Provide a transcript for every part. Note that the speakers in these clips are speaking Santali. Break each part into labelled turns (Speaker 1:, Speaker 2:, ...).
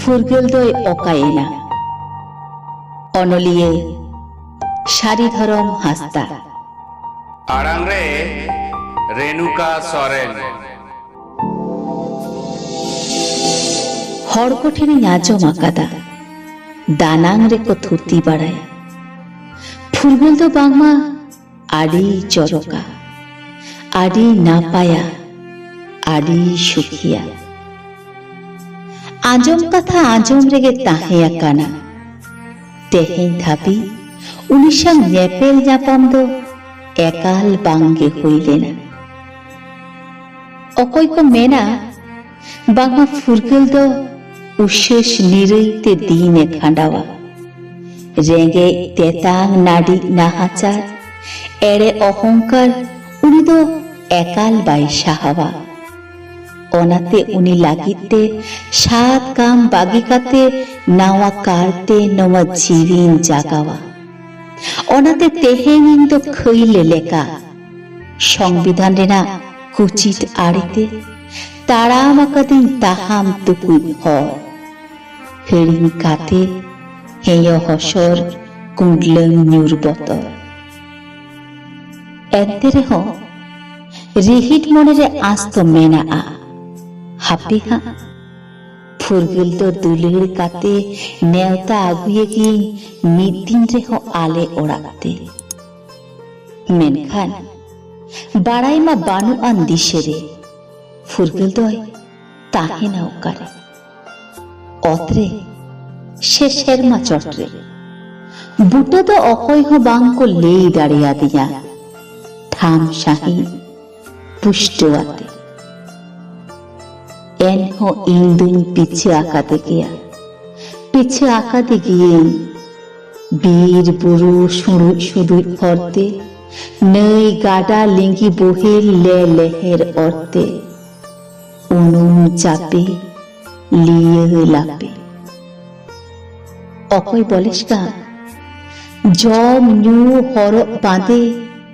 Speaker 1: ᱯᱷᱩᱨᱜᱟᱹᱞ ᱫᱚᱭ ᱚᱠᱟᱭᱮᱱᱟ ᱚᱱᱚᱞᱤᱭᱟᱹ ᱥᱟᱨᱤ ᱫᱷᱚᱨᱚᱢ ᱦᱟᱸᱥᱫᱟ ᱟᱲᱟᱝ
Speaker 2: ᱨᱮ ᱨᱮᱱᱩᱠᱟ ᱥᱚᱨᱮᱱ
Speaker 1: ᱦᱚᱲ ᱠᱚ ᱴᱷᱮᱱᱤᱧ ᱟᱸᱡᱚᱢ ᱟᱠᱟᱫᱟ ᱫᱟᱱᱟᱝ ᱨᱮᱠᱚ ᱛᱷᱩᱛᱤ ᱵᱟᱲᱟᱭᱟ ᱯᱷᱩᱨᱜᱟᱹᱞ ᱫᱚ ᱵᱟᱝᱢᱟ ᱟᱹᱰᱤ ᱪᱚᱨᱚᱠᱟ ᱟᱹᱰᱤ ᱱᱟᱯᱟᱭᱟ ᱟᱹᱰᱤ ᱥᱩᱠᱷᱤᱭᱟ ᱟᱸᱡᱚᱢ ᱠᱟᱛᱷᱟ ᱟᱸᱡᱚᱢ ᱨᱮᱜᱮ ᱛᱟᱦᱮᱸ ᱟᱠᱟᱱᱟ ᱛᱮᱦᱮᱧ ᱫᱷᱟᱹᱵᱤᱡ ᱩᱱᱤ ᱥᱟᱶ ᱧᱮᱯᱮᱞ ᱧᱟᱯᱟᱢ ᱫᱚ ᱮᱠᱟᱞ ᱵᱟᱝᱜᱮ ᱦᱩᱭ ᱞᱮᱱᱟ ᱚᱠᱚᱭ ᱠᱚ ᱢᱮᱱᱟ ᱵᱟᱝᱢᱟ ᱯᱷᱩᱨᱜᱟᱹᱞ ᱫᱚ ᱩᱥᱟᱹᱥ ᱱᱤᱨᱟᱹᱭ ᱛᱮ ᱫᱤᱱ ᱮ ᱠᱷᱟᱸᱰᱟᱣᱟ ᱨᱮᱸᱜᱮᱡ ᱛᱮᱛᱟᱝ ᱱᱟᱹᱰᱤ ᱱᱟᱦᱟᱪᱟᱨ ᱮᱲᱮ ᱚᱦᱚᱝᱠᱟᱨ ᱩᱱᱤ ᱫᱚ ᱮᱠᱟᱞ ᱵᱟᱭ ᱥᱟᱦᱟᱣᱟ ᱚᱱᱟᱛᱮ ᱩᱱᱤ ᱞᱟᱹᱜᱤᱫ ᱛᱮ ᱥᱟᱛ ᱠᱟᱢ ᱵᱟᱹᱜᱤ ᱠᱟᱛᱮ ᱱᱟᱣᱟ ᱠᱟᱨᱛᱮ ᱱᱚᱣᱟ ᱡᱤᱣᱤᱧ ᱡᱟᱜᱟᱣᱟ ᱚᱱᱟᱛᱮ ᱛᱮᱦᱮᱧ ᱤᱧ ᱫᱚ ᱠᱷᱟᱹᱭᱞᱮ ᱞᱮᱠᱟ ᱥᱚᱝᱵᱤᱫᱷᱟᱱ ᱨᱮᱱᱟᱜ ᱠᱩᱪᱤᱴ ᱟᱲᱮᱛᱮ ᱛᱟᱲᱟᱢ ᱟᱠᱟᱫᱤᱧ ᱛᱟᱦᱟᱢ ᱛᱩᱠᱩᱡ ᱦᱚᱨ ᱦᱤᱲᱤᱧ ᱠᱟᱛᱮ ᱦᱮᱭᱚ ᱦᱚᱥᱚᱨ ᱠᱩᱸᱰᱞᱟᱹᱝ ᱧᱩᱨ ᱵᱚᱛᱚᱨ ᱮᱱᱛᱮ ᱨᱮᱦᱚᱸ ᱨᱤᱦᱤᱴ ᱢᱚᱱᱮ ᱨᱮ ᱟᱸᱥ ᱫᱚ ᱢᱮᱱᱟᱜᱼᱟ ᱦᱟᱯᱮ ᱦᱟᱸᱜ ᱯᱷᱩᱨᱜᱟᱹᱞ ᱫᱚ ᱫᱩᱞᱟᱹᱲ ᱠᱟᱛᱮ ᱱᱮᱣᱛᱟ ᱟᱹᱜᱩᱭᱮᱜᱤᱧ ᱢᱤᱫ ᱫᱤᱱ ᱨᱮᱦᱚᱸ ᱟᱞᱮ ᱚᱲᱟᱜ ᱛᱮ ᱢᱮᱱᱠᱷᱟᱱ ᱵᱟᱲᱟᱭ ᱢᱟ ᱵᱟᱹᱱᱩᱜ ᱟᱱ ᱫᱤᱥᱟᱹ ᱨᱮ ᱯᱷᱩᱨᱜᱟᱹᱞ ᱫᱚᱭ ᱛᱟᱦᱮᱱᱟ ᱚᱠᱟᱨᱮ ᱚᱛ ᱨᱮ ᱥᱮ ᱥᱮᱨᱢᱟ ᱪᱚᱴ ᱨᱮ ᱵᱩᱴᱟᱹ ᱫᱚ ᱚᱠᱚᱭ ᱦᱚᱸ ᱵᱟᱝ ᱠᱚ ᱞᱟᱹᱭ ᱫᱟᱲᱮᱭᱟᱫᱤᱧᱟ ᱴᱷᱟᱢ ᱥᱟᱺᱦᱤᱡ ᱯᱩᱥᱴᱟᱹᱣᱟᱛᱮ ᱮᱱᱦᱚᱸ ᱤᱧ ᱫᱩᱧ ᱯᱤᱪᱷᱟᱹ ᱟᱠᱟᱫᱮ ᱜᱮᱭᱟ ᱯᱤᱪᱷᱟᱹ ᱟᱠᱟᱫᱮ ᱜᱤᱭᱟᱹᱧ ᱵᱤᱨ ᱵᱩᱨᱩ ᱥᱩᱲᱩᱡ ᱥᱩᱲᱩᱡ ᱦᱚᱨᱛᱮ ᱱᱟᱹᱭ ᱜᱟᱰᱟ ᱞᱤᱸᱜᱤ ᱵᱚᱦᱮᱞ ᱞᱮ ᱞᱮᱦᱮᱨ ᱚᱨᱛᱮ ᱩᱱᱩᱢ ᱪᱟᱯᱮ ᱞᱤᱭᱟᱹ ᱞᱟᱯᱮ ᱚᱠᱚᱭ ᱵᱚᱞᱮᱥ ᱠᱟᱱ ᱡᱚᱢ ᱧᱩ ᱦᱚᱨᱚᱜ ᱵᱟᱸᱫᱮ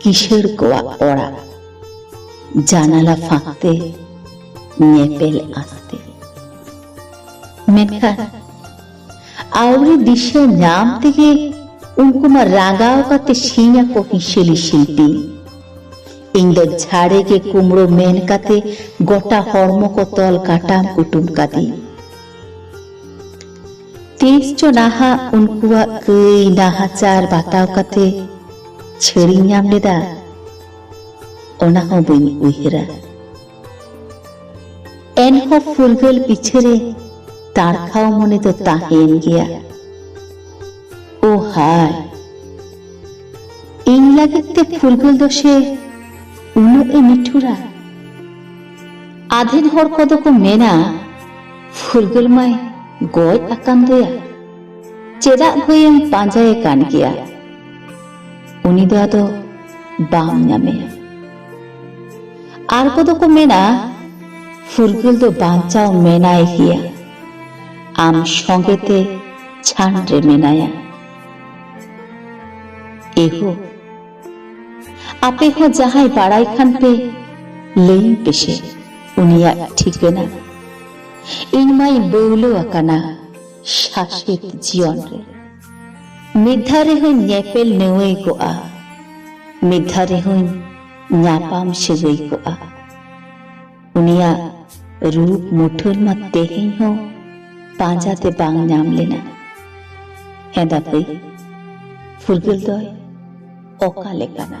Speaker 1: ᱠᱤᱥᱟᱹᱬ ᱠᱚᱣᱟᱜ ᱚᱲᱟᱜ ᱡᱟᱱᱟᱞᱟ ᱯᱷᱟᱸᱠ ᱛᱮ ᱧᱮᱯᱮᱞ ᱟᱸᱠᱛᱮ ᱢᱮᱱᱠᱷᱟᱱ ᱟᱹᱣᱨᱤ ᱫᱤᱥᱟᱹ ᱧᱟᱢ ᱛᱮᱜᱮ ᱩᱱᱠᱩ ᱢᱟ ᱨᱟᱸᱜᱟᱣ ᱠᱟᱛᱮ ᱥᱤᱧ ᱟᱠᱚ ᱦᱤᱥᱟᱹᱞᱤ ᱥᱤᱞᱯᱤ ᱤᱧ ᱫᱚ ᱡᱷᱟᱲᱮ ᱜᱮ ᱠᱩᱢᱲᱳ ᱢᱮᱱ ᱠᱟᱛᱮ ᱜᱚᱴᱟ ᱦᱚᱲᱢᱚ ᱠᱚ ᱛᱚᱞ ᱠᱟᱴᱟᱢ ᱠᱩᱴᱩᱢ ᱠᱟᱫᱤᱧ ᱛᱤᱥ ᱪᱚ ᱱᱟᱦᱟᱜ ᱩᱱᱠᱩᱣᱟᱜ ᱠᱟᱹᱭ ᱱᱟᱦᱟᱪᱟᱨ ᱵᱟᱛᱟᱣ ᱠᱟᱛᱮ ᱪᱷᱟᱹᱲᱤᱧ ᱧᱟᱢ ᱞᱮᱫᱟ ᱚᱱᱟ ᱦᱚᱸ ᱵᱟᱹᱧ ᱩᱭᱦᱟᱹᱨᱟ ᱮᱱᱦᱚᱸ ᱯᱷᱩᱨᱜᱟᱹᱞ ᱯᱤᱪᱷᱟᱹᱨᱮ ᱛᱟᱲᱠᱷᱟᱣ ᱢᱚᱱᱮ ᱫᱚ ᱛᱟᱦᱮᱸᱭᱮᱱ ᱜᱮᱭᱟ ᱳ ᱦᱟᱭ ᱤᱧ ᱞᱟᱹᱜᱤᱫ ᱛᱮ ᱯᱷᱩᱨᱜᱟᱹᱞ ᱫᱚ ᱥᱮ ᱩᱱᱟᱹᱜ ᱮ ᱱᱤᱴᱷᱩᱨᱟ ᱟᱫᱷᱮᱱ ᱦᱚᱲ ᱠᱚᱫᱚ ᱠᱚ ᱢᱮᱱᱟ ᱯᱷᱩᱨᱜᱟᱹᱞ ᱢᱟᱭ ᱜᱚᱡ ᱟᱠᱟᱱ ᱫᱚᱭᱟ ᱪᱮᱫᱟᱜ ᱵᱷᱟᱹᱭᱮᱢ ᱯᱟᱸᱡᱟᱭᱮ ᱠᱟᱱ ᱜᱮᱭᱟ ᱩᱱᱤ ᱫᱚ ᱟᱫᱚ ᱵᱟᱢ ᱧᱟᱢᱮᱭᱟ ᱟᱨ ᱠᱚᱫᱚ ᱠᱚ ᱢᱮᱱᱟ ᱯᱷᱩᱨᱜᱟᱹᱞ ᱫᱚ ᱵᱟᱧᱪᱟᱣ ᱢᱮᱱᱟᱭ ᱜᱮᱭᱟ ᱟᱢ ᱥᱚᱸᱜᱮ ᱛᱮ ᱪᱷᱟᱱ ᱨᱮ ᱢᱮᱱᱟᱭᱟ ᱮᱦᱳ ᱟᱯᱮ ᱦᱚᱸ ᱡᱟᱦᱟᱸᱭ ᱵᱟᱲᱟᱭ ᱠᱷᱟᱱ ᱯᱮ ᱞᱟᱹᱭ ᱯᱮᱥᱮ ᱩᱱᱤᱭᱟᱜ ᱴᱷᱤᱠᱟᱹᱱᱟ ᱤᱧ ᱢᱟᱹᱧ ᱵᱟᱹᱣᱞᱟᱹ ᱟᱠᱟᱱᱟ ᱥᱟᱥᱮᱛ ᱡᱤᱭᱚᱱ ᱨᱮ ᱢᱤᱫ ᱫᱷᱟᱣ ᱨᱮᱦᱚᱸᱧ ᱧᱮᱯᱮᱞ ᱱᱮᱣᱟᱹᱭ ᱠᱚᱜᱼᱟ ᱢᱤᱫ ᱫᱷᱟᱣ ᱨᱮᱦᱚᱸᱧ ᱧᱟᱯᱟᱢ ᱥᱟᱹᱜᱟᱹᱭ ᱠᱚᱜᱼᱟ ᱩᱱᱤᱭᱟᱜ ᱨᱩᱯ ᱢᱩᱴᱷᱟᱹᱱ ᱢᱟ ᱛᱮᱦᱮᱧ ᱦᱚᱸ ᱯᱟᱸᱡᱟᱛᱮ ᱵᱟᱝ ᱧᱟᱢ ᱞᱮᱱᱟ ᱦᱮᱸ ᱫᱟᱯᱟᱹᱭ ᱯᱷᱩᱨᱜᱟᱹᱞ ᱫᱚᱭ ᱚᱠᱟ ᱞᱮᱠᱟᱱᱟ